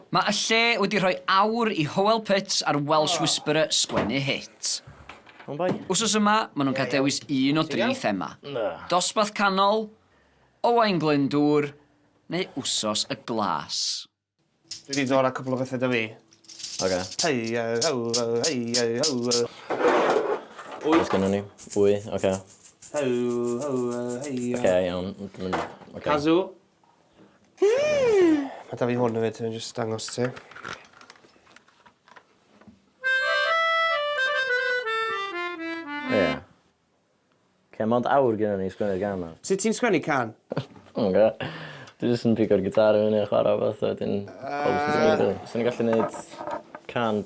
Mae y lle wedi rhoi awr i Howell Pitts a'r Welsh Whisperer sgwennu hit. Wsos yma, maen nhw'n cael dewis un o dri thema, Dosbarth Canol, Owain Glyndŵr neu Wsos y Glas. Dwi 'di dod â cwpl o bethe 'da fi. Ocê. Oes gynnon ni ŵy? Ocê. Ocê iawn. Cazoo. Mae da fi hwn hefyd, dwi'n just dangos ti. Ie. Oce, mond awr gyda ni i sgwennu'r gan ma. Sut ti'n sgwennu can? Dwi'm yn gwybod. Dwi jyst yn pigo'r gitar i fyny a chwarae rhywbeth a wedyn... Yy... Sa'n ni'n gallu neud can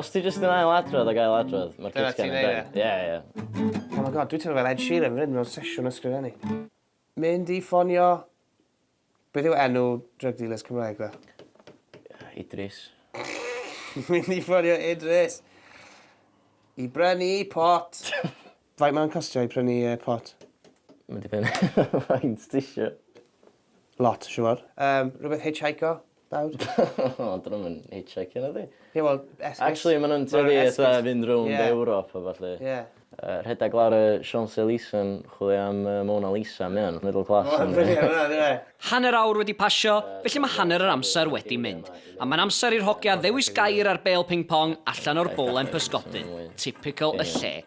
Os ti jyst yn ail adrodd ac ail adrodd, mae'r Dyna cutcan ti'n yn neud done. Ie, ie. Oh my god, dwi teimlo fel Ed Sheeran fan hyn mewn sesiwn ysgrifennu. Mynd i ffonio... Beth yw enw drug dealers Cymraeg ddo? Idris. Mynd i ffonio Idris i brynu pot. Faint mae'n costio i prynu yy pot? Mae'n dibynnu faint tisio. Lot siŵr. Yym rhywbeth hitchhico nawr? O 'dyn nhw'm yn hitchhicio na 'di? Ie wel esgus. Actually ma' nhw'n tueddu fatha fynd rownd Ie. Ewrop a ballu. Ie. Yy rhedeg lawr y Champs Elise yn chwilio am yy Mona Lisa mae o'n middle class yndi? Mae'n brilliant hwnna yndyw e? Hanner awr wedi pasio, felly mae hanner yr amser wedi mynd. A mae'n amser i'r hogia ddewis gair ar bêl ping pong allan o'r bowlen pysgodyn. Typical y lle.